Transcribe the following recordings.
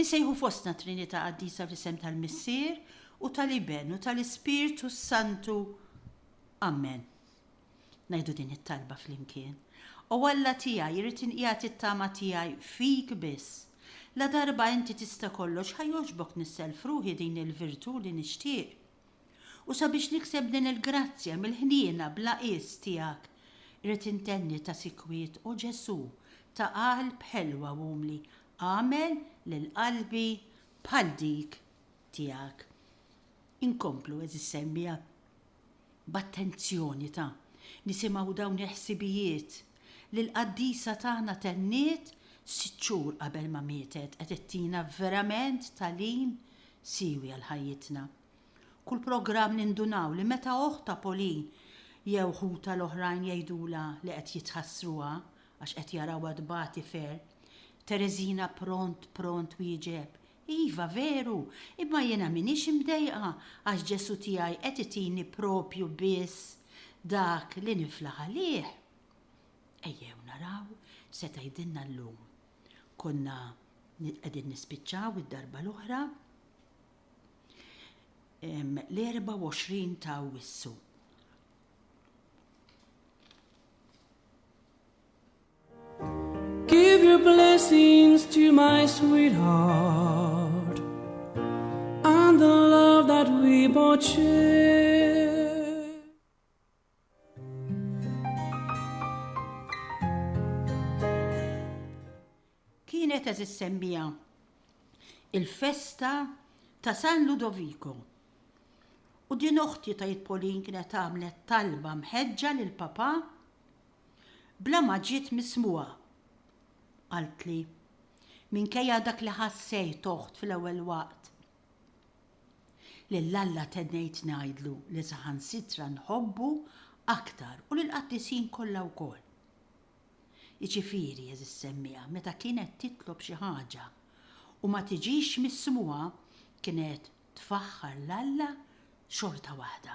Insejħu fostna Trinità Qaddisa fl-isem tal-Missier u tal-Iben u tal-Ispirtu s-Santu. Ammen. Ngħidu din it-talba flimkien. O Alla tiegħi, irrid inqiegħed it-tama tiegħi fik biss. Ladarba inti tista' kollox ħa jogħġbok nissellf ruħi din il-virtù li nixtieq. U sabiex nikseb din il-grazzja mill-ħniena bla qies tiegħek, irrid intenni ta' sikwit, O Ġesù, ta' qalb ħelwa u umli, agħmel lil qalbi bħal dik tiegħek. Inkomplu, għeżież semmie, b'attenzjoni ta' nisimgħu dawn il-ħsibijiet. li l-qaddisa tagħna tenniet sitt xhur qabel ma mietet qed ittina verament tagħlim siewi għal ħajjitna. Kull programm nindunaw li meta oħtha Pauline jew ħutha l-oħrajn jgħidulha li qed jitħassruha għax qed jarawha tbati ferm, Tereżina pront pront twieġeb, Iva, veru, imma jiena m'iniex imdejqa għax Ġesù tiegħi qed itini proprju biss dak li niflaħ għalih. Ejjew naraw x'se tgħidilna llum. Konna qegħdin nispiċċaw id-darba l-oħra l-24 ta' Awwissu. Give your blessings to my sweetheart and the love that we both share. Kienet eżis semmija il-festa ta' San Ludovico. U din oħti ta' jitpolin kienet għamlet talba mħedġa lil papa bla ma ġiet mismugħa. Qaltli, Minkejja dak li ħassejt, oħt, fl-ewwel waqt, lil Alla tennejt ngħidlu li saħansitra nħobbu aktar u lill-qaddisin kollha wkoll. Jiġifieri, għeżież semmiegħa, meta kienet titlob xi ħaġa u ma tiġix mismugħa kienet tfaħħar 'l Alla xorta waħda.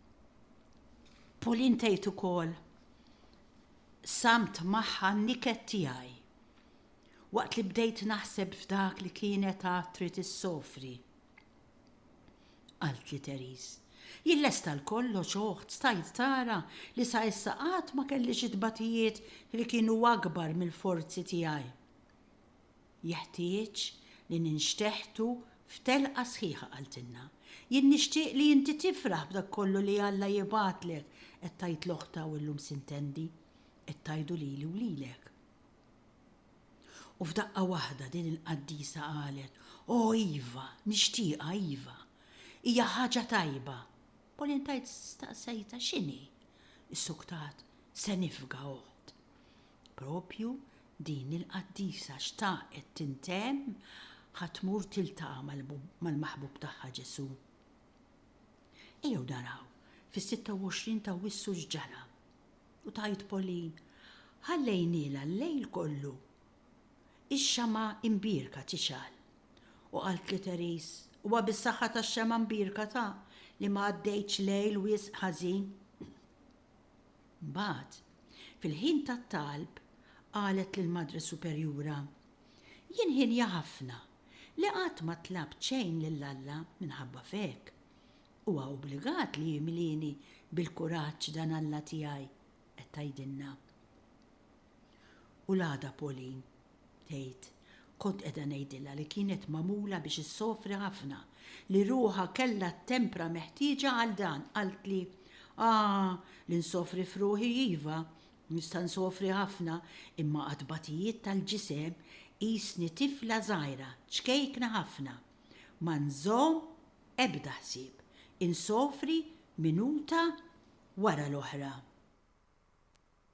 Pauline tgħid ukoll, Samt magħha n-niket tiegħi. Waqt li bdejt naħseb f'dak li kienet għad trid issofri. Qaltli Therese, Jien lesta għal kollox oħt stajt tara li sa issa qatt ma kelli xi tbatijiet li kienu akbar mill-forzi tiegħi. Jeħtieġ li ninxteħtu f'telqa sħiħa qaltilna. Jien nixtieq li inti tifraħ b'dak kollu li Alla jibgħatlek qed tgħid l-oħta u llum sintendi qed tgħidu lili u lilek. U f'daqqa waħda din il-qaddisa qalet, O iva, nixtieqha, iva. Hija ħaġa tajba. Pauline tgħid staqsejtha x'inhi? Issuktat, Se nifga, oħt. Proprju din il-qaddisa xtaqet tintemm ħa tmur tiltaqa' mal-maħbub tagħha Ġesù. Ejjew naraw fis-26 t'Awwissu x'ġara. U tgħid Pauline, Ħallejnielha l-lejl kollu ix-xemgħa imbierka tixgħal. U qalt li Therese, Huwa bis-saħħa tax-xemgħa imbierka ta' li ma għaddejtx lejl wisq ħażin. Mbagħad, fil-ħin tat-talb, qalet lill-Madre Superjura, Jien ħienja ħafna li qatt ma tlabt xejn lil Alla minħabba f'hekk. Huwa obbligat li jimlieni bil-kuraġġ dan Alla tiegħi, qed tgħidilna. U l-għada Pauline tgħid, Kont qiegħda ngħidilha li kienet magħmula biex issofri ħafna, li ruħha kellha t-tempra meħtieġa għal dan, qaltli, Ah, li nsofri f'ruħi iva, nista' nsofri ħafna, imma għat-tbatijiet tal-ġisem qisni tifla żgħira, ċkejkna ħafna. Ma nżomm ebda ħsieb, insofri minuta wara l-oħra.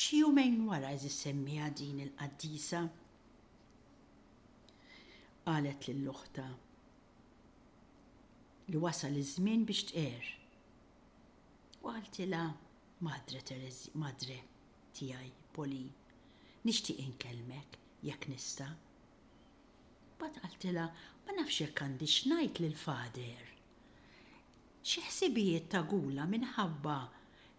Xi jumejn wara Iżis semmiha din il-qaddisa. Qalet lil uħtha li wasal iż-żmien biex tqegħer. U qaltilha, Madre Tereżja, Madre tiegħi, Pauline, nixtieq inkellmek, jekk nista'. Mbagħad qaltilha, Ma nafx jekk għandix ngħid lill-Father. Xi ħsibijiet ta' gula minħabba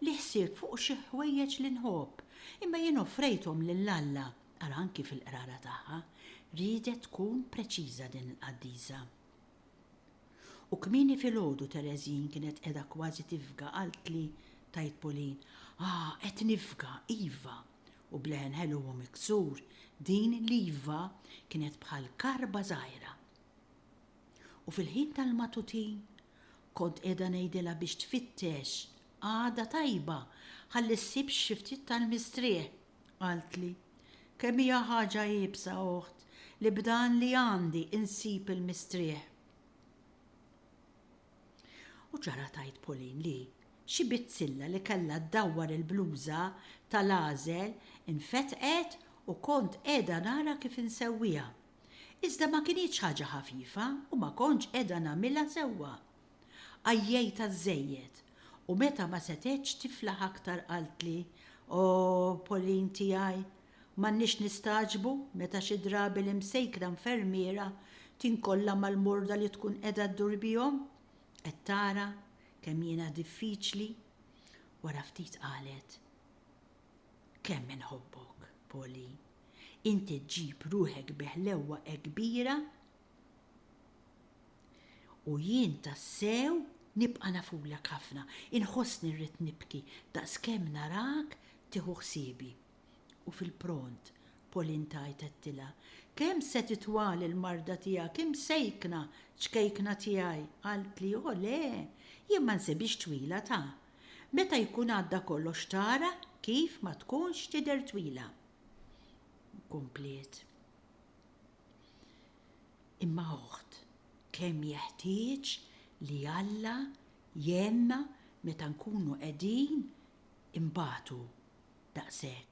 li ħsibt fuq xi ħwejjeġ li nħobb, imma jien offrejthom lil Alla, ara anki fil-qrara tagħha, riedet tkun preċiża din il-qaddisa. U kmieni filgħodu Tereżin kienet qiegħda kważi tifga qaltli, tgħid Pauline, ah, qed nifga, iva! u b'leħen ħelu u miksur, din l-iva kienet bħal karba żgħira. U fil-ħin tal-matutin kont qiegħda ngħidilha biex tfittex qagħda tajba ħalli ssib xi ftit tal-mistrieħ. Qaltli, Kemm hija ħaġa iebsa, oħt, li b'dan li għandi insib il-mistrieħ. U ġara tgħid Pauline li xi bizzilla li kellha ddawwar il-bluża tal-għażel infetqet u kont qiegħda nara kif insewwiha. Iżda ma kinitx ħaġa ħafifa u ma kontx qiegħda nagħmilha sewwa. Għajjejtha żżejjed u meta ma setgħetx tiflaħ aktar qaltli, O, Pauline tiegħi, m'għandniex nistagħġbu meta xi drabi l-imsejkra infermiera tinkolla mal-morda li tkun qiegħda ddur bihom? Qed tara kemm jiena diffiċli? Wara ftit qalet, Kemm inħobbok, Pauline. Int iġġib ruħek bi ħlewwa kbira u jien tassew nibqa' nafulek ħafna. Inħossni rrid nibki daqskemm narak tieħu ħsiebi. U fil-pront, Pauline tgħid għedtilha, Kemm se titwal il-marda tiegħek imsejkna, ċkejkna tiegħi? Qaltli, O le, jien ma nsibhiex twila ta! Meta jkun għadda kollox tara kif ma tkunx tidher twila. Kompliet. Imma oħt, kemm jeħtieġ li Alla jgħinna meta nkunu qegħdin inbatu daqshekk.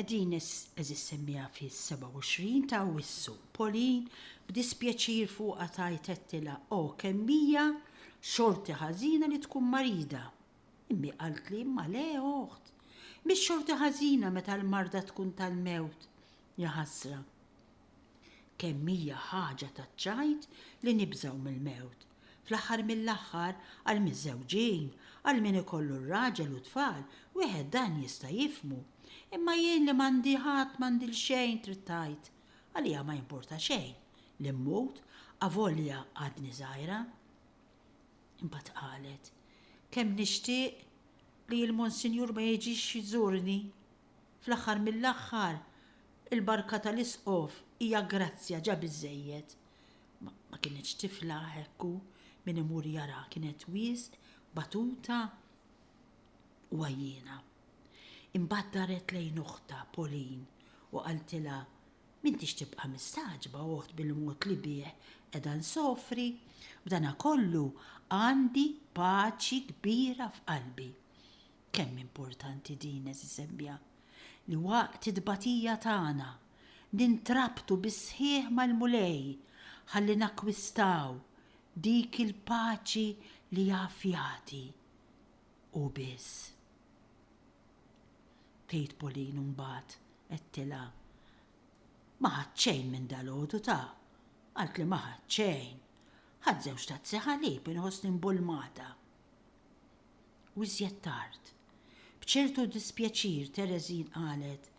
Qegħdin issemmieha fis-27 ta' Awwissu. Pauline b'dispjaċir fuqha tgħid għedtilha O kemm hija xorti ħażina li tkun marida. Immi qaltli Imma le, oħt. Mhix xorti ħażina meta l-marda tkun tal-mewt. Jaħasra. Kemm hija ħaġa taċ-ċajt li nibżgħu mill-mewt. Fl-aħħar mill-aħħar, għall-miżżewġin, għal min ikollu r-raġel u t-tfal, wieħed dan jista' jifhmu. Imma jien li m'għandi ħadd m'għandi l-xejn trid tgħid, għalija ma jimpurta xejn li mmut avolja għadni żgħira. Imbagħad qalet, Kemm nixtieq li l-Monsinjur ma jiġix jżurni. Fl-aħħar mill-aħħar, il-barka tal-Isqof hija grazzja ġa biżżejjed. Ma kinitx tifla hekk u min imur jaraha kienet wisq batuta u għajjiena. Imbagħad daret lejn oħtha Pauline u qaltilha, M'intix tibqa' mistagħġba oħt bil-mod li bih qiegħda nsofri, b'danakollu għandi paċi kbira f'qalbi. Kemm importanti din, għeżieżebbja, li waqt it-tbatija tagħna, nintrabtu bis-sħiħ mal-Mulej ħalli nakkwistaw dik il-paċi li jaf jagħti Hu biss. Tgħid Pauline u mbagħad għedtilha, Ma ħadt xejn minn dalgħodu ta! Qaltli ma ħadt xejn. Ħadt żewġ tazzi ħalib, inħossni mbulmata. u iżjed tard, b'ċertu dispjaċir Tereżin qalet,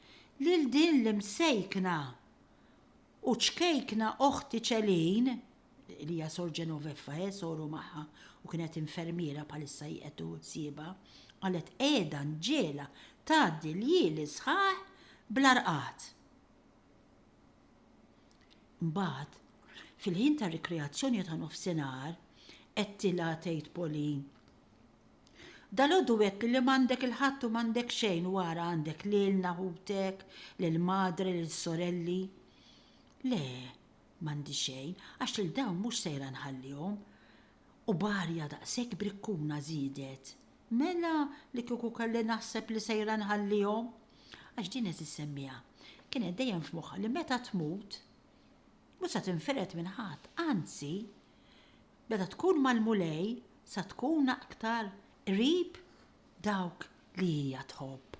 Lil din l-imsejkna u ċkejkna oħti Ċelin, li hija Sor Genoveffa, eh, soru magħha u kienet infermiera bħalissa hi qed tuħu ħsiebha, qalet qiegħda nġiegħla tgħaddi l-jili sħaħ bla rqad. Imbagħad, fil-ħin tar-rikreazzjoni ta' nofsinhar, għedtilha, tgħid Pauline, Dalgħodu għedtli li m'għandek 'il ħadd u m'għandek xejn u ara għandek lilna, ħutek, lill-madre, lill-sorelli. Le, m'għandi xejn, għax lil dawn mhux sejra nħallihom. U b'arja daqshekk brikkuna żiedet, Mela li kieku kelli naħseb li sejra nħallihom! Għax din qed issemmiha. Kienet dejjem f'moħħha li meta tmut, mhux se tinfired minn ħadd, anzi, meta tkun mal-Mulej se tkun aktar qrib dawk li hija tħobb.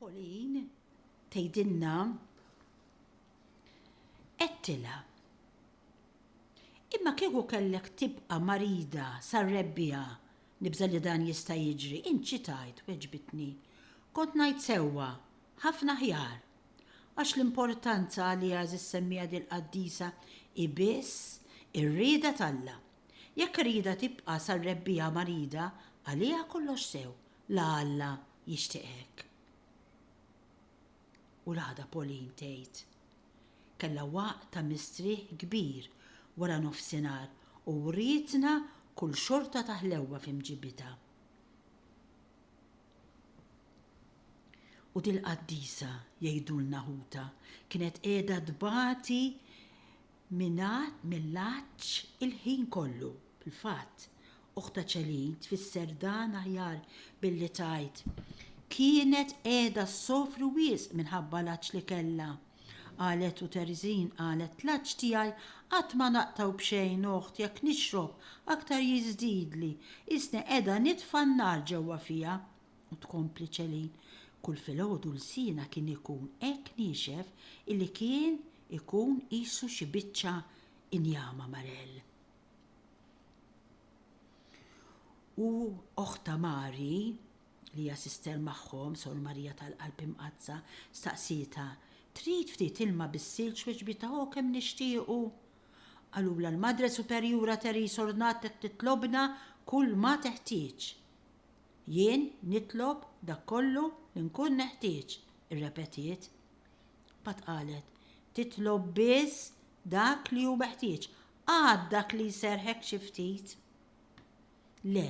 Pauline tgħidilna, Għedtilha, Imma kieku kellek tibqa' marida sar-Rebbiegħa, nibża' li dan jista' jiġri, int xi tgħid? Weġbitni, Kont ngħid sewwa, ħafna aħjar! Għax l-importanza għaliha żis-semmiegħa dil-qaddisa hi biss ir-rieda t'Alla. Jekk irridha tibqa' sar-Rebbiegħa marida, għaliha kollox sew, La Alla jixtieq hekk. U l-għada Pauline tgħid, Kellha waqt ta' mistrieħ kbir wara nofsinhar u wrietna kull xorta ta' ħlewwa fi mġibitha. U dil-qaddisa, jgħidulna ħutha, kienet qiegħda tbati Mingħad mill-għatx il-ħin kollu. Fil-fatt, Oħta Céline tfisser dan aħjar billi tgħid, Kienet qiegħda ssofri wisq minħabba l-għatx li kellha. Qalet u Teresine qalet, L-għatx tiegħi qatt ma naqtgħu b'xejn, oħt, jekk nixrob, aktar jiżdidli, qisni qiegħda nitfa' n-nar ġewwa fija. U tkompli Céline, Kull filgħodu lsienha kien ikun hekk niexef illi kien Ikun qisu xi biċċa injama Marelle. U oħtha Mary, li hija sister magħhom, Sor Marija tal-Qalb Imqaddsa, staqsietha, Trid ftit ilma bis-silġ weġbitha O kemm nixtiequ! Qalulha l-Madre Superjura Therese Ornat qed titlobna kull ma teħtieġ. Jien nitlob dak kollu li nkun neħtieġ, irrepetiet. Pat qalet, Titlob biss dak li hu meħtieġ. Għad dak li jserrħek xi ftit? Le,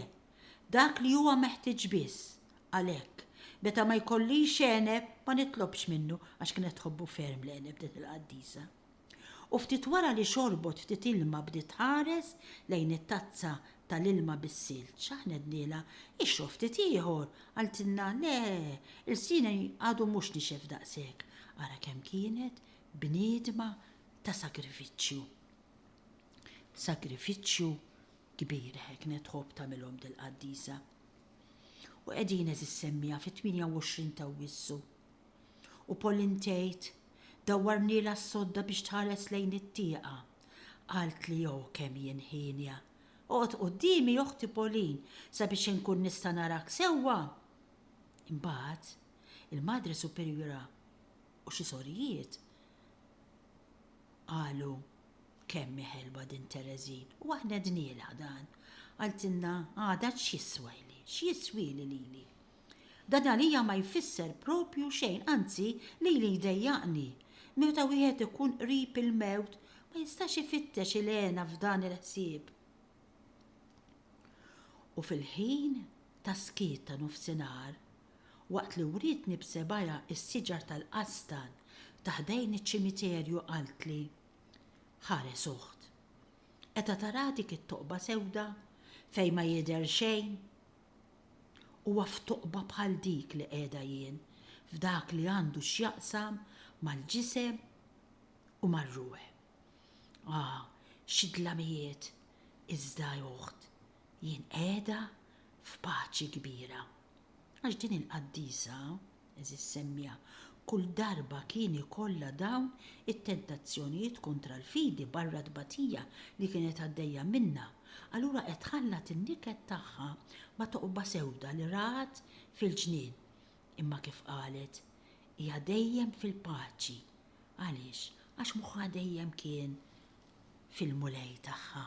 dak li huwa meħtieġ biss. Għalhekk, meta ma jkollix għeneb ma nitlobx minnu għax kienet tħobbu ferm l-għeneb din il-qaddisa. U ftit wara li xorbot ftit ilma bdiet tħares lejn it-tazza ta' l-ilma bis-silġ. Ċaħnednielha, Ixrob ftit ieħor! Qaltilna, Le, ilsini għadu mhux nixef daqshekk. Ara kemm kienet bniedma ta' sagrifiċċju. Sagrifiċċju kbir heknet tħobb tagħmilhom dil-qaddisa. U qegħdin għeżież semmiegħa fit-28 ta' Awwissu. U Pauline tgħid, Dawwarnielha s-sodda biex tħares lejn it-tieqa. Qaltli, O, kemm jien hienja! Oqgħod quddiemi, oħti Pauline, sabiex inkun nista' narak sewwa! Imbagħad, il-Madre Superiora u xi sorijiet qalu, Kemm hi ħelwa din Tereżin! U aħna għednielha dan. Qaltilna, Għada x'jiswajli, x'jiswieli lili? Dan għalija ma jfisser proprju xejn, anzi lili jdejjaqni. Meta wieħed ikun qrib il-mewt ma jistax ifittex il-hena f'dan il-ħsieb. U fil-ħin tas-skiet ta' nofsinhar, waqt li wrietni b'sebgħiha s-siġar tal-qastan ta' ħdejn iċ-ċimiterju qaltli, Ħares uħt. Qeta tara dik it-toqba sewda fejn ma jidher xejn? Huwa f'toqba bħal dik li qiegħda jien f'dak li għandu x'jaqsam mal-ġisem u mar-ruħ. Ah, xi dlamijiet, iżda oħt, jien qiegħda f'paċi kbira. Għax din il-qaddisa Eżiż Semmija, kull darba kien ikollha dawn it-tentazzjonijiet kontra l-fidi barra t-tbatija li kienet għaddejja minnha, allura qed tħallat in-niket tagħha ma' toqba sewda li rat fil-ġnien. Imma kif qalet, hija dejjem fil-paċi. Għaliex? Għax moħħha dejjem kien fil-Mulej tagħha.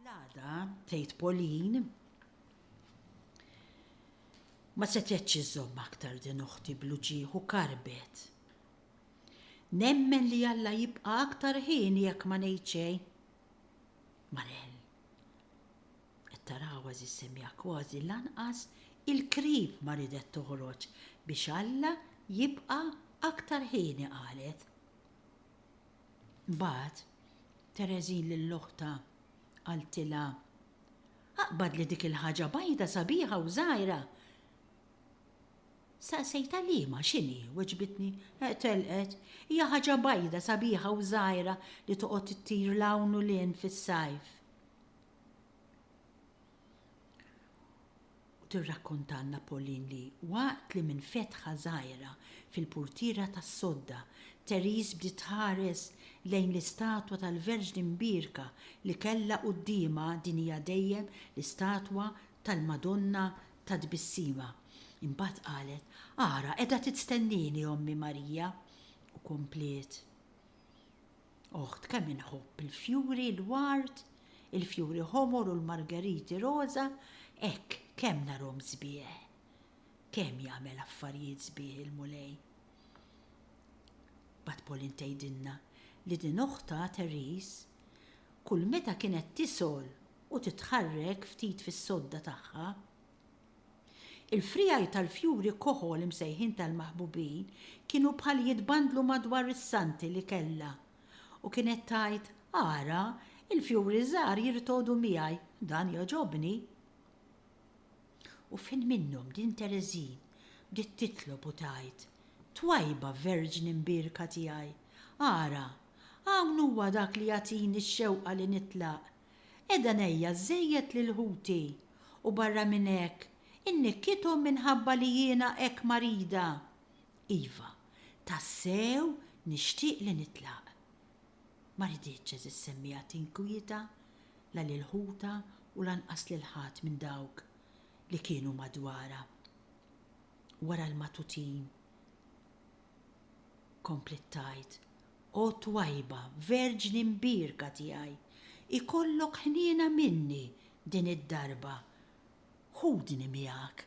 L-għada, tgħid Pauline, ma setgħetx iżżomm aktar din uħti bl-uġigħ u karbet. Nemmen li Alla jibqa' aktar hieni jekk ma ngħid xejn. Marel, qed tara għażiż semmiha kważi lanqas il-krib ma ridet toħroġ biex Alla jibqa' aktar hieni qalet. Mbagħad, Tereżin lil oħtha qaltilha, Aqbad li dik il-ħaġa bajda sabiħa u żgħira! Staqsejtha liema, x'inhi, weġbitni, telqet, hija ħaġa bajda sabiħa u żgħira li toqgħod ittir 'l hawn u 'l hinn fis-sajf. Tirrakkontalna Pauline li waqt li minn fetħa żgħira fil-purtiera tas-sodda, Therese bdiet tħares lejn l-istatwa tal-Verġni Mbierka li kellha quddiemha din hija dejjem l-istatwa tal-Madonna tat-Tbissima. Imbagħad qalet, Ara, qiegħda titstennieni Ommi Marija! u kompliet, Oħt kemm inħobb il-fjuri, l-ward, il-fjuri ħomor u l-margeriti roża, hekk kemm narhom sbieħ. Kemm jagħmel affarijiet sbieħ il-Mulej. Mbagħad Pauline tgħidilna li din oħtha Therese kull meta kienet tisgħol u titħarrek ftit fis-sodda tagħha, Il-friegħi tal-fjuri koħol imsejħin tal-maħbubin kienu bħal jitbandlu madwar is-santi li kellha, u kienet tgħid, Ara, il-fjuri żgħar jirtogħdu miegħi, dan jogħġobni. U fin minnhom din Tereżin bdiet titlob u tgħid, Twajba Verġni mbierka tiegħi, ara, hawn huwa dak li jagħtini x-xewqa li nitlaq, Qiegħda ngħejja żżejjed lil ħuti, u barra minn hekk, innikkithom minħabba li jiena hekk marida. Iva, tassew nixtieq li nitlaq. Ma riditx għeżież semmiegħa tinkwieta, la lil ħutha u lanqas lil ħadd minn dawk li kienu madwarha. Wara l-matutin, kompliet tgħid, O twajba Verġni mbierka tiegħi, ikollok ħniena minni din id-darba, ħudni miegħek.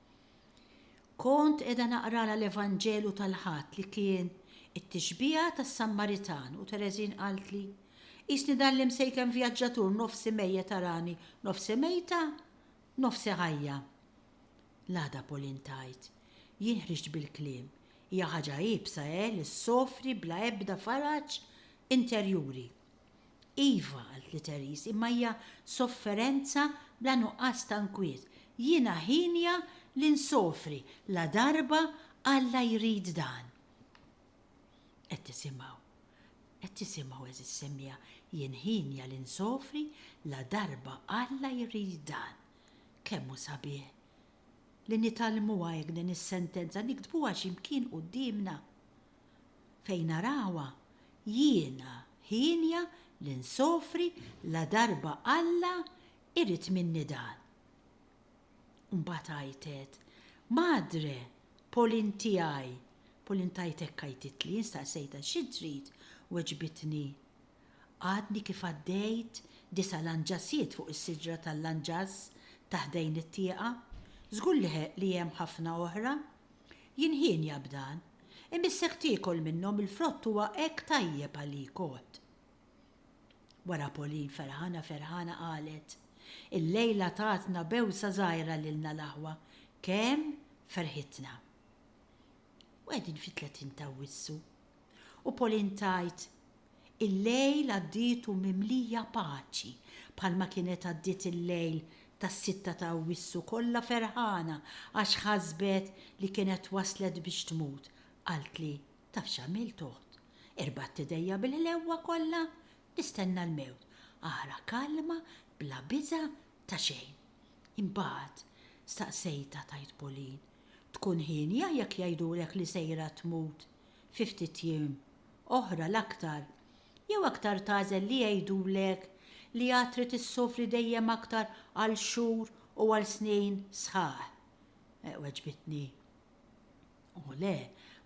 Kont qiegħda naqralha l-Evanġelu tal-Ħadd li kien it-tixbiha tas-Sammaritan u Tereżin qaltli, Qisni dan l-imsejken vjaġġatur nofsi mejjet arani nofsi mejta, nofsi ħajja. L-għada Pauline tgħid, Jien ħriġt bil-kliem, hija ħaġa iebsa, eh, li ssofri bla ebda faraġ interjuri. Iva, qalt li Therese, imma hija sofferenza bla nuqqas ta' nkwiet. Jiena hienja li nsofri ladarba Alla jrid dan. Qed tisimgħu? Qed tisimgħu, għeżież semmiegħa, jien hienja li nsofri ladarba Alla jrid dan. Kemm hu sabiħ li nitgħallmuha hekk din is-sentenza, niktbuha xi mkien quddiemna. fejn arawha jiena hienja li nsofri ladarba Alla jrid minni dan. U mbagħad għajtet, Madre, Pauline tiegħi, Pauline tgħajt hekk għajtitli, jien staqsejtha xi trid, weġbitni Għadni kif għaddejt disa' lanġasiet fuq is-siġra tal-lanġas ta' ħdejn it-tieqa, żgur li hemm ħafna oħra. Jien hienja b'dan. Imissek tiekol minnhom il-frott huwa hekk tajjeb għalik għodd. Wara Pauline ferħana ferħana qalet, Illejla tatna bewsa żgħira lilna l-aħwa, kemm ferħitna. U qegħdin fit-tletin t'Awwissu. U Pauline tgħid, Il-lejl għaddietu mimlija paċi, bħalma kienet għaddiet il-lejl tas-sitta ta' Awwissu kollha ferħana għax ħasbet li kienet waslet biex tmut, qaltli, Taf x'għamilt oħt? Irbadt idejja bil-ħlewwa kollha, nistenna l-mewt, ara kalma bla biża' ta' xejn. Imbagħad, staqsejtha, tgħid Pauline, Tkun hienja jekk jgħidulek li sejra tmut? fi ftit jiem, oħra l-aktar, jew aktar tagħżel li jgħidulek li għad trid issofri dejjem aktar għal xhur u għal snin sħaħ? weġbitni. O le,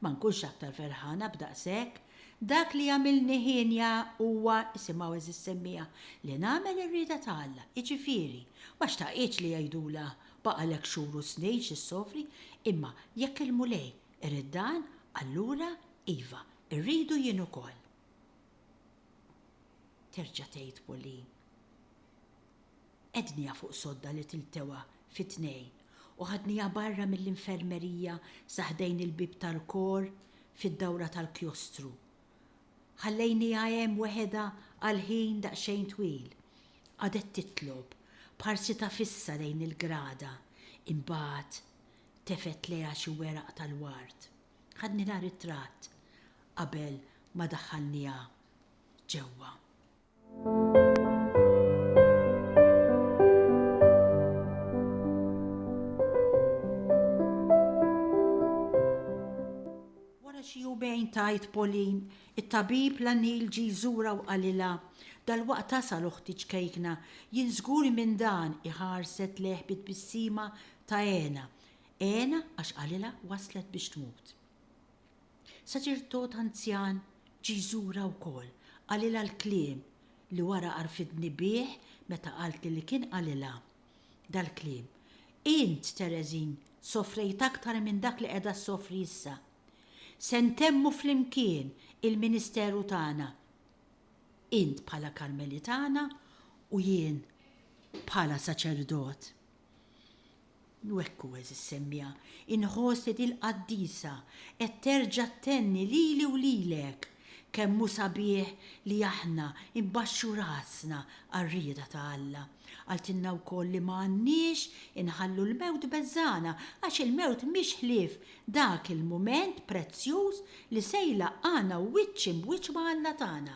ma nkunx aktar ferħana b'daqshekk. Dak li jagħmilni hienja huwa, isimgħu eżiż semmiegħa, li nagħmel ir-rieda ta' Alla, jiġifieri, ma xtaqitx li jgħidulha baqgħalek xhur u snin x'issofri, imma jekk il-Mulej Irid dan, allura, iva, irridu jien ukoll. Terġa' tgħid Pauline, Qegħdniha fuq sodda li tiltewha fi tnejn u ħadniha barra mill-infermerija sa ħdejn il-bieb tal-kor fid-dawra tal-kjostru. Ħallejniha hemm weħedha għal ħin daqsxejn twil. Qagħdet titlob, b'ħarsitha fissa lejn il-grada, imbagħad Tefgħet lejha xi weraq tal-ward. Ħadnilha ritratt qabel ma daħħalniha ġewwa. Wara xi jumejn tgħid Pauline, it-tabib la Neil ġie jżurha u qalilha, Dalwaqt tasal uħti ċkejkna, jien żgur minn dan, hi ħarset lejh bi tbissima Ta' hena, hena għax qalilha waslet biex tmut. Saċerdot anzjan ġie jżurha wkoll, qalilha l-kliem li wara għarfitni bih meta qaltli li kien qalilha dal-kliem, Int, Tereżin, sofrejt aktar minn dak li qiegħda ssofri issa. Se ntemmu flimkien il-ministeru tagħna, int bħala Karmelitana u jien bħala saċerdot. U hekk hu, għeżież semmiegħa, inħoss li dil-qaddisa qed terġa' ttenni lili u lilek kemm hu sabiħ li aħna nbaxxu rasna għar-rieda ta' Alla. Qaltilna wkoll li ma għandniex inħallu l-mewt beżgħana għax il-mewt mhix ħlief dak il-mument prezzjuż li se jlaqqagħna wiċċ imb wiċċ ma' Alla tagħna.